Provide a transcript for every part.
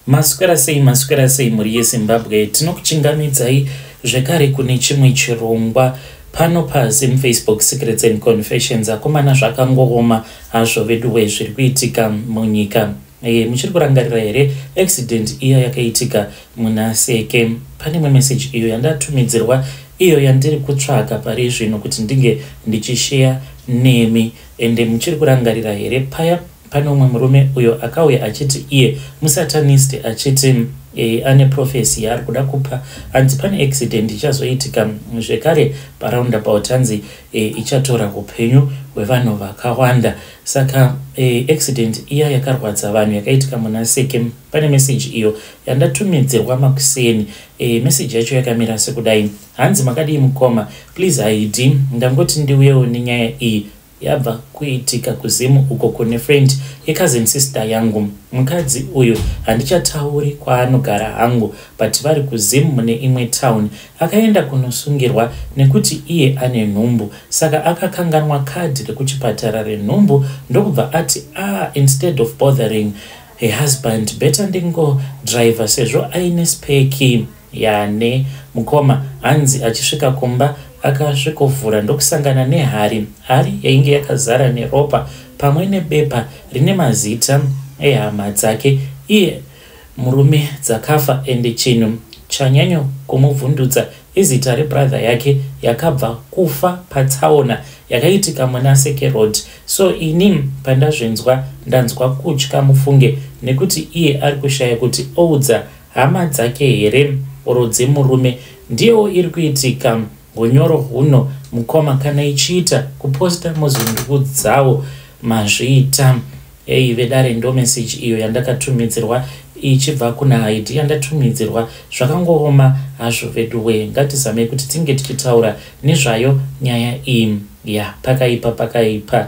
maswera sei maswera sei mhuri yezimbabwe tinokuchingamidzai zvekare kune chimwe chirongwa pano pasi mufacebook secrets and confessions akomana zvakangooma hazvo veduwe zviri kuitika munyika e, muchiri kurangarira here accident iya yakaitika muna seke pane imwe meseji iyo yandatumidzirwa iyo yandiri kutsvaga pari zvino kuti ndinge ndichisheya nemi ende muchiri kurangarira here paya Pane umwe murume uyo akauya achiti iye musatanist achiti e, ane profesi yaari kuda kupa hanzi pane accident ichazoitika zvekare paroundabout hanzi e, ichatora upenyu hwevanhu vakawanda saka e, accident iya yakarwadza vanhu yakaitika muna seke pane meseji iyo yandatumidzirwa makuseni e, meseji yacho yakamira sekudai hanzi makadii mukoma please haidi ndangoti ndiuyewo nenyaya iyi yabva kuitika kuZim uko kune friend yecousin sister yangu. Mukadzi uyu handichatauri kwaanogara hangu but vari kuZim mune imwe town. Akaenda kunosungirwa nekuti iye ane nhumbu saka akakanganwa kadhi rekuchipatara renhumbu ndokubva ati ah, instead of bothering her husband better ndingodriver sezvo aine spare key. Yane. Mukoma hanzi achisvika kumba akasvikovhura ndokusangana nehari. Hari yainge yakazara neropa pamwe nebepa rine mazita ehama dzake iye murume dzakafa ende chinhu chanyanyo kumuvhundutsa izita rebrother yake yakabva kufa patsaona yakaitika muna sekerod so ini pandazvinzwa ndanzwa kutya mufunge nekuti iye ari kushaya kuti oudza Hama dzake here or dzemurume ndiyewo iri kuitika hunyoro huno mukoma kana ichiita kuposta mozondiudzawo mazviita eyi vedare ndo meseji iyo yandakatumidzirwa ichibva kuna haidi yandatumidzirwa zvakangooma hazvo veduwe ngatizamei kuti tinge tichitaura nezvayo nyaya iyi ya pakaipa pakaipa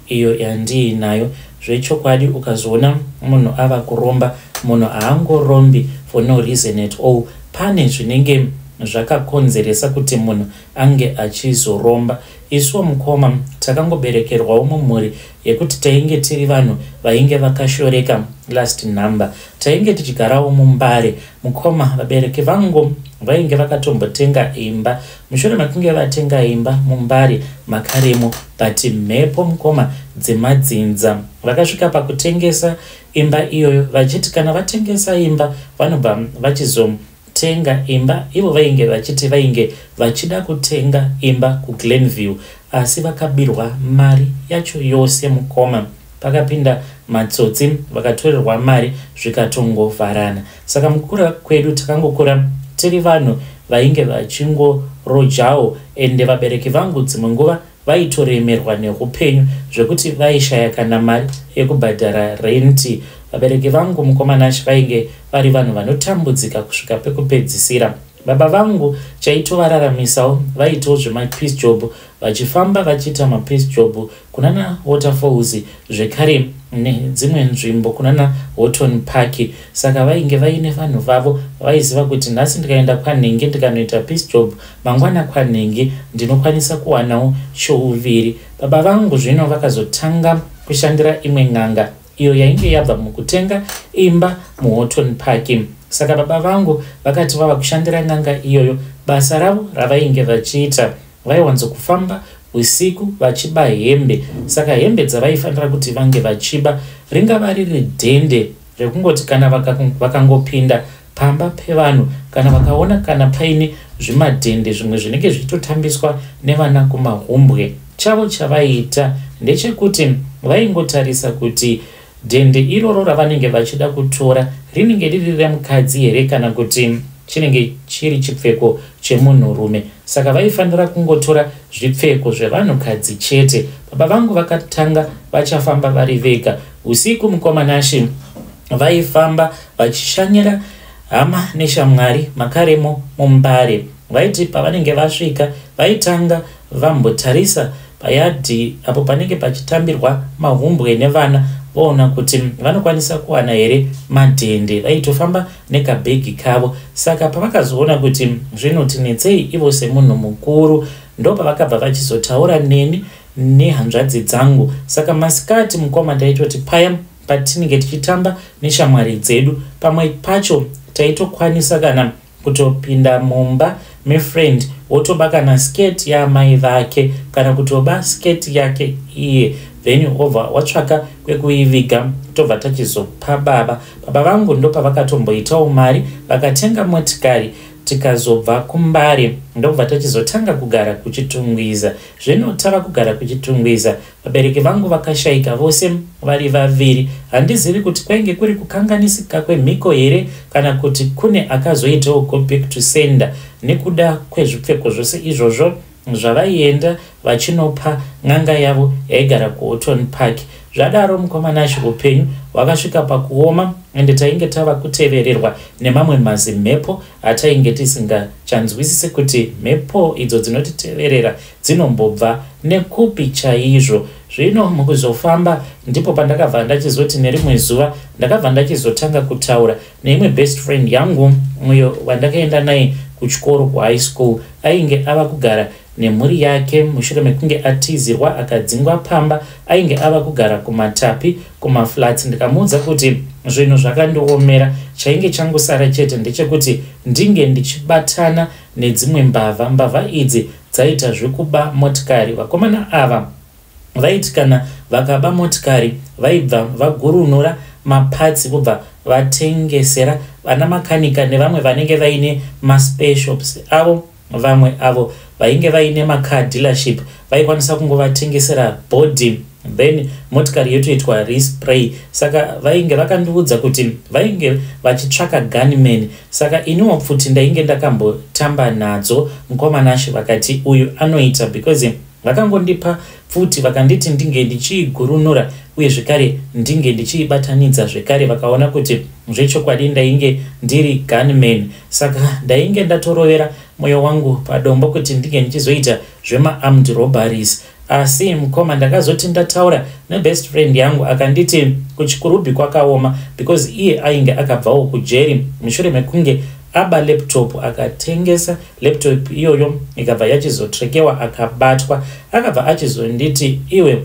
iyo yandiinayo zvechokwadi ukazoona munhu ava kuromba munhu haangorombi for no reason at all pane zvinenge zvakakonzeresa kuti munhu ange achizoromba isuwo mukoma takangoberekerwawo mumhuri yekuti tainge tiri vanhu vainge vakashoreka last number tainge tichigarawo mumbare Mukoma vabereki vangu vainge vakatombotenga imba mushure makunge vatenga imba mumbari makarimo but mhepo mukoma dzemadzinza vakasvika pakutengesa imba iyoyo vachiti kana vatengesa imba vanobva vachizotenga imba ivo vainge vachiti vainge vachida kutenga imba kuglenview asi vakabirwa mari yacho yose mukoma pakapinda matsotsi vakatorerwa mari zvikatongovharana saka mukukura kwedu takangokura tiri vanhu vainge vachingorojawo ende vabereki vangu dzimwe nguva vaitoremerwa neupenyu zvekuti vaishaya kana mari yekubhadhara renti vabereki vangu mukomanashi vainge vari vanhu vanotambudzika kusvika pekupedzisira baba vangu chaitovararamisawo vaitawo zvemapeace job vachifamba vachiita mapeace job kunana waterfalls zvekare nedzimwe nzvimbo kunana horton park saka vainge vaine vanhu vavo vaiziva kuti nhasi ndikaenda kwanhenge ndikanoita peace job mangwana kwanhenge ndinokwanisa kuwanawo chouviri baba vangu zvino vakazotanga kushandira imwe n'anga iyo yainge yabva mukutenga imba muhorton park saka baba vangu vakati vava kushandira n'anga iyoyo basa ravo ravainge vachiita Vaiwanzo kufamba usiku vachiba hembe saka hembe dzavaifanira kuti vange vachiba ringava riri dhende rekungoti kana vakangopinda vaka pamba pevanhu kana vakaona kana paine zvimadhende zvimwe zvinenge zvichitotambiswa nevana kumahumbwe chavo chavaiita ndechekuti vaingotarisa kuti Dende iroro ravanenge vachida kutora rinenge riri remukadzi here kana kuti chinenge chiri chipfeko chemunhurume saka vaifanira kungotora zvipfeko zvevanhukadzi chete baba vangu vakatanga vachafamba vari vega usiku mukoma nashe vaifamba vachishanyira hama neshamwari makaremo mumbare vaiti pavanenge vasvika vaitanga vambotarisa payadhi apo panenge pachitambirwa mahumbwe nevana voona kuti vanokwanisa kuwana here madhende vaitofamba nekabhegi kavo saka pavakazoona kuti zvinotinetsei ivo semunhu mukuru ndopavakabva vachizotaura neni nehanzvadzi dzangu saka masikati mukoma taitoti paya patinenge tichitamba neshamwari dzedu pamwe pacho taitokwanisa kana kutopinda mumba mefriend wotoba kana skirt yaamai vake kana kutoba skirt yake iye then over watsvaka kwekuiviga tobva tachizopa baba baba vangu ndopavakatomboitawo mari vakatenga motikari tikazobva kumbare ndobva tachizotanga kugara kuchitungwiza zvino tava kugara kuchitungwiza Vabereki vangu vakashaika vose vari vaviri. Handizivi kuti kwainge kuri kukanganisika kwemhiko here kana kuti kune akazoitawo go back to sender nekuda kwezvipfeko zvose izvozvo zvavaienda vachinopa n'anga yavo yaigara kuhoton park zvadaro mukomanashe upenyu hwakasvika pakuoma ende tainge tava kutevererwa nemamwe mazimhepo atainge tisingachanzwisise kuti mhepo idzo dzinotiteverera dzinombobva nekupi chaizvo zvino mukuzofamba ndipo pandakabva ndachizoti nerimwe zuva ndakabva ndachizotanga kutaura neimwe best friend yangu uyo wandakaenda naye kuchikoro kuhigh school ainge ava kugara nemhuri yake mushure mekunge atizirwa akadzingwa pamba ainge ava kugara kumatapi kumaflats ndikamuudza kuti zvinhu zvakandiomera chainge changosara chete ndechekuti ndinge ndichibatana nedzimwe mbavha. Mbavha idzi dzaita zvekuba motikari. Vakomana ava vaiti kana vakaba motikari vaibva vagurunura mapatsi vobva vatengesera vana makanika nevamwe vanenge vaine maspeshops avo. Vamwe avo vainge vaine macar dealership vaikwanisa kungovatengesera bhodhi. then motikari yotoitwa respray saka vainge vakandiudza kuti vainge vachitsvaka gunman saka iniwo pfuti ndainge ndakambotamba nadzo mukoma nashe vakati uyu anoita because vakangondipa pfuti vakanditi ndinge ndichiigurunura uye zvekare ndinge ndichiibatanidza zvekare vakaona kuti zvechokwadi ndainge ndiri gunman saka ndainge ndatorovera mwoyo wangu padombo kuti ndinge ndichizoita zvemaarmed robaries Asi mukoma ndakazoti ndataura nebest friend yangu akanditi kuchikurubhi kwakaoma because iye ainge akabvawo kujeri mushure mekunge aba laptop akatengesa laptop iyoyo ikabva yachizotrekewa akabatwa akabva achizonditi iwe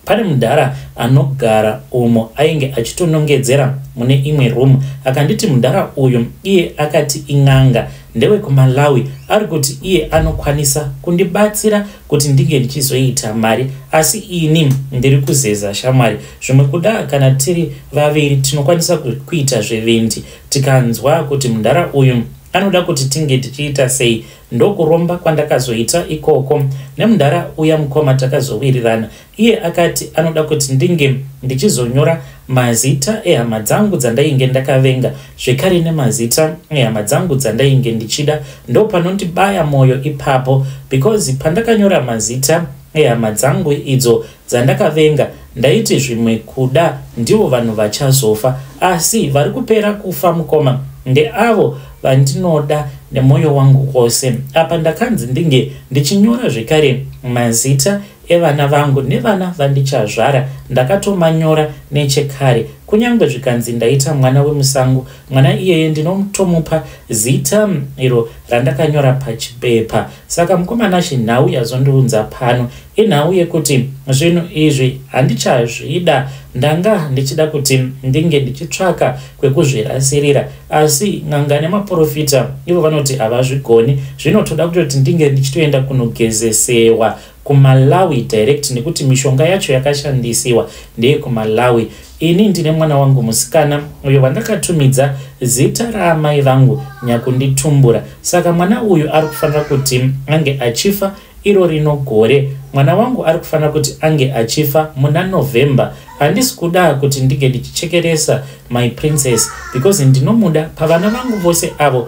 pane mudhara anogara umo ainge achitonongedzera mune imwe room akanditi mudhara uyu iye akati in'anga ndewekumalawi ari kuti iye anokwanisa kundibatsira kuti ndinge ndichizoita mari asi ini ndiri kuzeza shamwari zvimwe kuda kana tiri vaviri tinokwanisa kuita zvevendi tikanzwa kuti mundara uyu anoda kuti tinge tichiita sei ndokuromba kwandakazoita ikoko nemundara uya mukoma takazowirirana Iye akati anoda kuti ndinge ndichizonyora mazita ehama dzangu dzandainge ndakavenga zvekare nemazita ehama dzangu dzandainge ndichida. Ndopanondibaya mwoyo ipapo because pandakanyora mazita ehama dzangu idzo dzandakavenga ndaiti zvimwe kuda ndivo vanhu vachazofa asi vari kupera kufa mukoma ndeavo vandinoda nemwoyo wangu wose. Apa ndakanzi ndinge ndichinyora zvekare mazita evana vangu nevana vandichazvara ndakatomanyora nechekare kunyange zvikanzi ndaita mwana wemusango mwana iyeye ndinotomupa zita mm, iro randakanyora pachipepa saka mukomana shi nhau yazondiunza pano inhau yekuti zvinhu izvi handichazvida ndanga ndichida kuti mm, ndinge ndichitsvaka kwekuzvirasirira asi nganga nemaprofita ivo vanoti havazvigoni zvinotoda kutoti ndinge ndichitoenda kunogezesewa kumalawi direct nekuti mishonga yacho yakashandisiwa ndeye kumalawi ini ndine mwana wangu musikana uyo vandakatumidza zita raamai vangu nyakunditumbura saka mwana uyu ari kufanira kuti ange achifa iro rino gore mwana wangu ari kufanira kuti ange achifa muna november handisi kuda kuti ndinge ndichichekeresa my princess because ndinomuda pavana vangu vose avo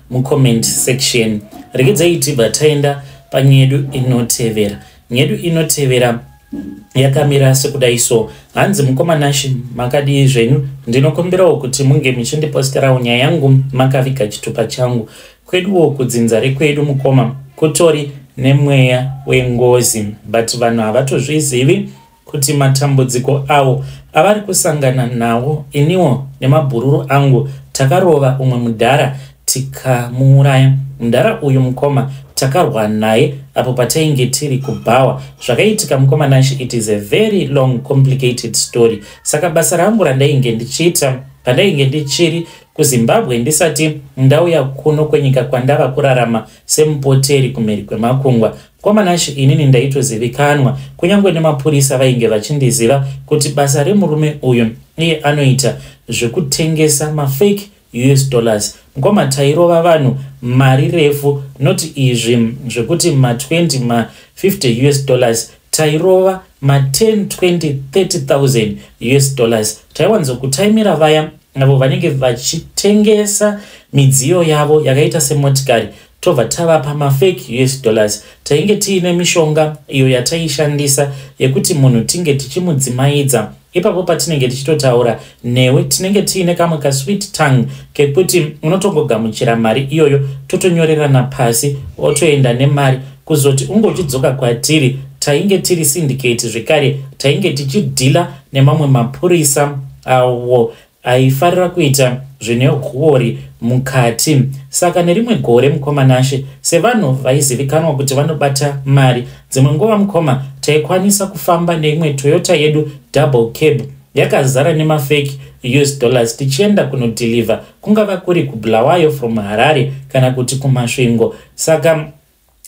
mucomment section regedzai tibva taenda panyedu inotevera nyedu inotevera yakamira sekudai so hanzi mukoma nashi makadii zvenyu ndinokumbirawo kuti munge muchindiposterawo nyaya yangu makaviga chitupa changu kweduwo kudzinza rekwedu mukoma kutori nemweya wengozi but vanhu havatozvizivi kuti matambudziko awo avari kusangana nawo iniwo nemabhururu angu takarova umwe mudhara tikamuuraya mudhara uyu mukoma takarwa naye apo patainge tiri kubhawa zvakaitika mukoma nashe it is a very long complicated story saka basa rangu randainge ndichiita pandainge ndichiri kuzimbabwe ndisati ndauya kuno kwenyika kwandava kurarama semupoteri kumhiri kwemakungwa KwaManashe inini ndaitozivikanwa kunyange nemapurisa vainge vachindiziva kuti basa remurume uyu iye anoita zvekutengesa mafake us dollars mukoma tairova vanhu mari refu not izvi zvekuti ma20 ma50 us dollars tairova ma10 20 30000 us dollars taiwanzokutaimira vaya avo vanenge vachitengesa midziyo yavo yakaita semotikari Tobva tava pamafake us dollars tainge tiine mishonga iyo yataishandisa yekuti munhu tinge tichimudzimaidza ipapo patinenge tichitotaura newe tinenge tiine kamwe kasweet tongue kekuti unotongogamuchira mari iyoyo totonyorerana pasi otoenda nemari kuzoti unge uchidzoka kwatiri tainge tiri syndicate zvekare tainge tichidhila nemamwe mapurisa awo aifarira kuita zvine huori mukati saka nerimwe gore mukoma nashe sevanhu vaizivikanwa kuti vanobata mari dzimwe nguva mukoma taikwanisa kufamba neimwe toyota yedu double cab yakazara nemafeki us dollars tichienda kunodhilivha kungava kuri kubulawayo from harare kana kuti kumasvingo saka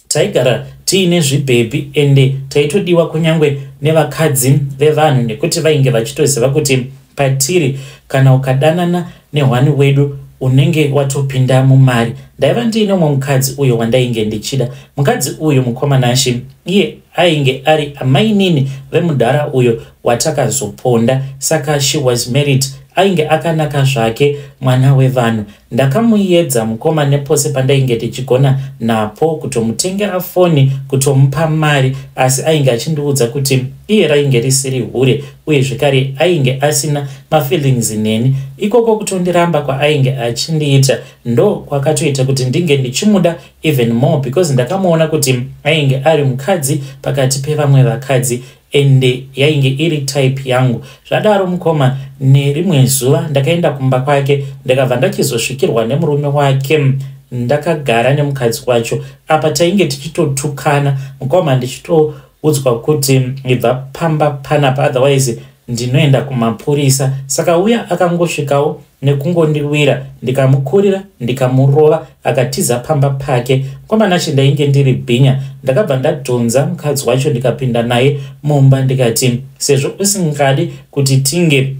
taigara tiine zvibhebhi ende taitodiwa kunyange nevakadzi vevanhu nekuti vainge vachitoziva kuti patiri kana ukadanana nehwani wedu unenge watopinda mumari ndaiva ndiine umwe mukadzi uyo wandainge ndichida mukadzi uyu mukomanashi iye ainge ari amainini vemudhara uyo watakazoponda saka she was married ainge akanaka zvake mwana wevanhu Ndakamuedza mukoma nepose pandainge ndichigona napo kutomutengera foni kutomupa mari asi ainge achindiudza kuti iye rainge risiri hure uye zvekare ainge asina mafeelings neni. Ikoko kutondiramba kwaainge achindiita ndo kwakatoita kuti ndinge ndichimuda even more because ndakamuona kuti ainge ari mukadzi pakati pevamwe vakadzi ende yainge iri type yangu zvadaro mukoma nerimwe zuva ndakaenda kumba kwake ndakabva ndachizosvikirwa nemurume wake ndakagara nemukadzi wacho apa tainge tichitotukana mukoma ndichitoudzwa kuti ibva pamba panapa otherwise ndinoenda kumapurisa saka uya akangosvikawo nekungondiwira ndikamukurira ndikamurova akatiza pamba pake kwamanashi ndainge ndiri bhinya ndakabva ndadhonza mukadzi wacho ndikapinda naye mumba ndikati sezvo usingadi kuti tinge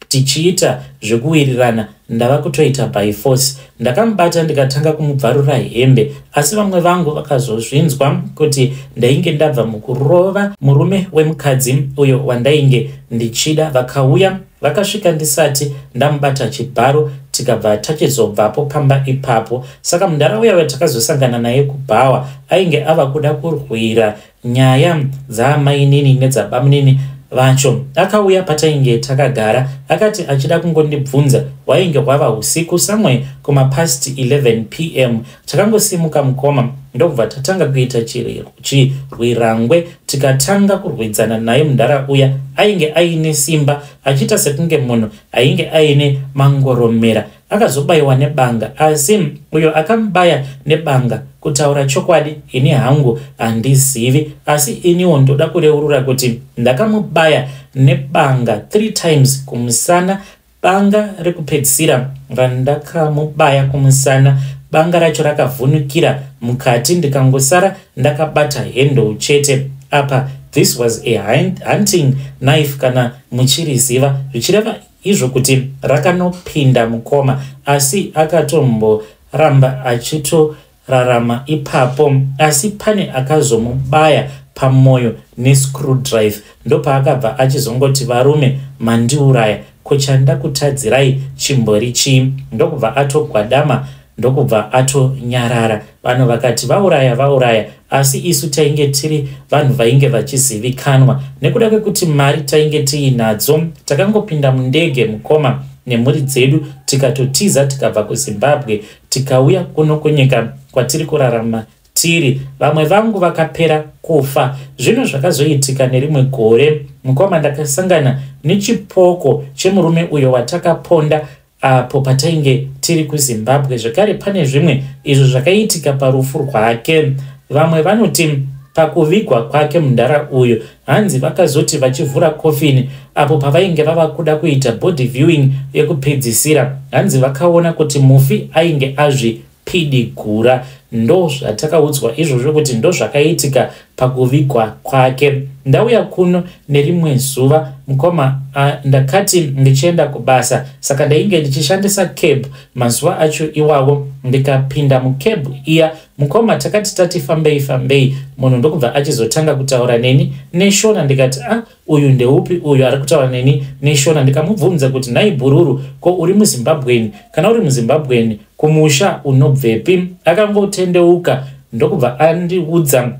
tichiita zvekuwirirana ndava kutoita by force ndakamubata ndikatanga kumubvarura hembe asi vamwe vangu vakazozvinzwa kuti ndainge ndabva mukurova murume wemukadzi uyo wandainge ndichida vakauya Vakasvika ndisati ndamubata chibharo tikabva tachizobvapo pamba ipapo. Saka mudhara uya watakazosangana naye kubhawa ainge ava kuda kurwira nyaya dzaamainini nedzabamunini vacho. Akauya patainge takagara akati achida kungondibvunza wainge hwava usiku somewhere kumapast 11 pm. Takangosimuka mukoma ndokubva tatanga kuita chiriro. Chirwirangwe tikatanga kurwidzana naye mudhara uya ainge aine simba achiita sekunge munhu ainge aine mangoromera akazobayiwa nebanga asi uyo akamubaya nebanga kutaura chokwadi ini hangu handizivi asi iniwo ndoda kureurura kuti ndakamubaya nebanga three times kumusana Banga rekupedzisira randakamubaya kumusana banga racho rakavhunukira mukati ndikangosara ndakabata handle chete apa this was a hunting knife kana muchiriziva zvichireva izvo kuti rakanopinda mukoma asi akatomboramba achito rarama ipapo asi pane akazomubaya pamoyo nescrew drive ndopaakabva achizongoti varume mandiuraya ko chanda kutadzirai chimbori chii ndokubva atogwadama ndokubva atonyarara vanhu vakati vauraya vauraya asi isu tainge tiri vanhu vainge vachizivikanwa nekuda kwekuti mari tainge tiinadzo takangopinda mundege mukoma nemhuri dzedu tikatotiza tikabva kuzimbabwe Tikauya kuno kunyika kwatiri kurarama tiri vamwe vangu vakapera kufa zvino zvakazoitika nerimwe gore mukoma ndakasangana nechipoko chemurume uyo watakaponda apo patainge tiri kuzimbabwe zvekare pane zvimwe izvo zvakaitika parufu rwake vamwe vanoti pakuvigwa kwake mundara uyu Hanzi vakazoti vachivhura coffin apo pavainge vava kuda kuita body viewing yekupedzisira, hanzi vakaona kuti mufi ainge azvi pidigura ndo zvatakaudzwa izvozvo kuti ndo zvakaitika pakuvigwa kwake ndauya kuno nerimwe zuva mukoma ndakati ndichienda kubasa saka ndainge ndichishandisa cab mazuva acho iwawo ndikapinda mucab iya Mukoma takati tati fambei fambei munhu ndokubva achizotanga kutaura neni neshona ndikati a ah, uyu ndeupi uyu ari kutaura neni neshona ndikamubvunza kuti nhai bhururu ko uri muzimbabweni kana uri muzimbabweni kumusha unobvepi akangotendeuka ndokubva andiudza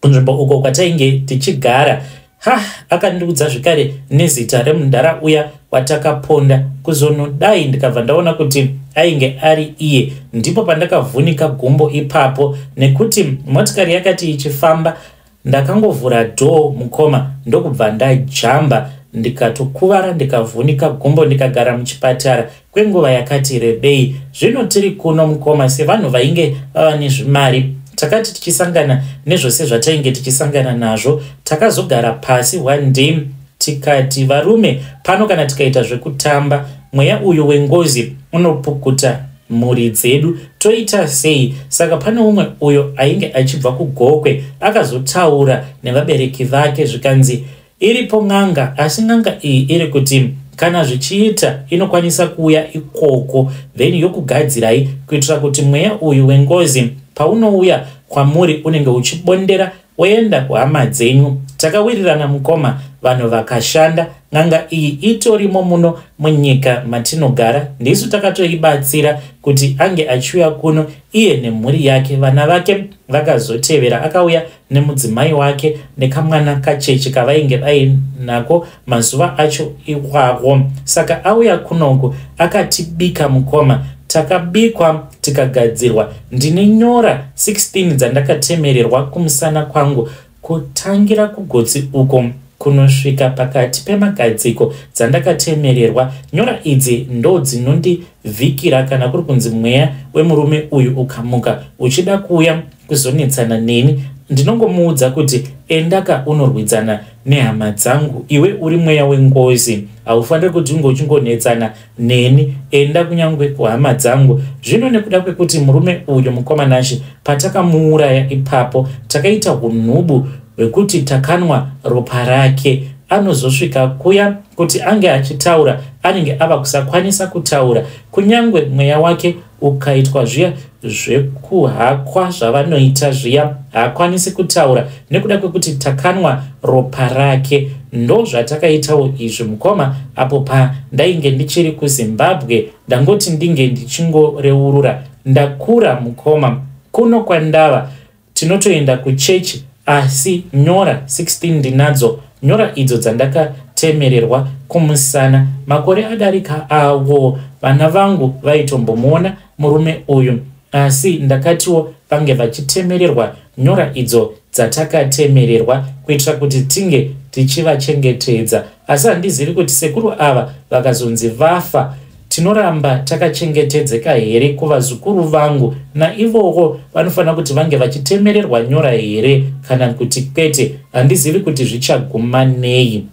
kunzvimbo uko kwatainge tichigara ha akandiudza zvekare nezita remudhara uya watakaponda kuzonodai ndikabva ndaona kuti ainge ari iye ndipo pandakavhunika gumbo ipapo nekuti motikari yakati ichifamba ndakangovhura dhoo mukoma ndokubva ndajamba ndikatokuvara ndikavhunika gumbo ndikagara muchipatara kwenguva yakati rebei zvino tiri kuno mukoma sevanhu vainge vava nezvimari takati tichisangana nezvose zvatainge tichisangana nazvo takazogara pasi one day tikati varume pano kana tikaita zvekutamba mweya uyu wengozi unopukuta mhuri dzedu toita sei saka pane umwe uyo ainge achibva kugokwe akazotaura nevabereki vake zvikanzi Iripo n'anga asi n'anga iyi iri kuti kana zvichiita inokwanisa kuuya ikoko then yokugadzirai kuitira kuti mweya uyu wengozi paunouya kwamuri unenge uchibondera woenda kuhama dzenyu takawirirana mukoma vanhu vakashanda n'anga iyi itorimo muno munyika matinogara ndisu takatoibatsira kuti ange achiuya kuno iye nemhuri yake vana vake vakazotevera akauya nemudzimai wake nekamwana kacheche kavainge vainako mazuva acho iwawo saka auya kunoku akatibika mukoma takabikwa tikagadzirwa ndine nyora 16 dzandakatemererwa kumusana kwangu kutangira kugotsi uko kunosvika pakati pemagadziko dzandakatemererwa nyora idzi ndo dzinondivhikira kana kuri kunzi mweya wemurume uyu ukamuka uchida kuuya kuzonetsana neni ndinongomuudza kuti endaka unorwidzana nehama dzangu iwe uri mweya wengozi haufaniri kuti unge uchingonetsana neni enda kunyange kuhama dzangu zvino nekuda kwekuti murume uyu mukwamanashe patakamuuraya ipapo takaita unhubu hwekuti takanwa ropa rake anozosvika kuya kuti ange achitaura anenge ava kusakwanisa kutaura kunyange mweya wake ukaitwa zviya zvekuhakwa zvavanoita zviya haakwanisi kutaura nekuda kwekuti takanwa ropa rake ndozvatakaitawo izvi mukoma apo pa ndainge ndichiri kuzimbabwe ndangoti ndinge ndichingoreurura ndakura mukoma kuno kwandava tinotoenda kuchechi asi nyora 16 ndinadzo nyora idzo dzandakatemererwa kumusana makore adarika awo vana vangu vaitombomuona murume uyu asi ndakatiwo vange vachitemererwa nyora idzo dzatakatemererwa kuitira kuti tinge tichivachengetedza asi handizivi kuti sekuru ava vakazonzi vafa Tinoramba takachengetedzeka here kuvazukuru vangu? Naivowo vanofanira kuti vange vachitemererwa nyora here kana kuti kwete? Handizivi kuti zvichaguma nei.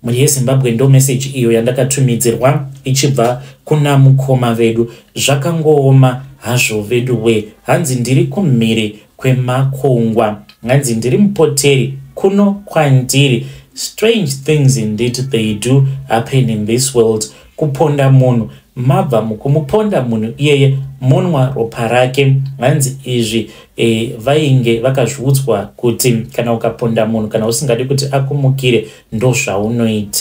Mhuri yeZimbabwe ndo meseji iyo yandakatumidzirwa ichibva kuna mukoma vedu. Zvakangooma hazvo veduwee, hanzi ndiri kumhiri kwemakungwa nganzi ndiri mupoteri kuno kwandiri strange things indeed they do happen in this world kuponda munhu mabva mukumuponda munhu iyeye monwa ropa rake hanzi izvi e, vainge vakazviudzwa kuti kana ukaponda munhu kana usingadi kuti akumukire ndozvaunoita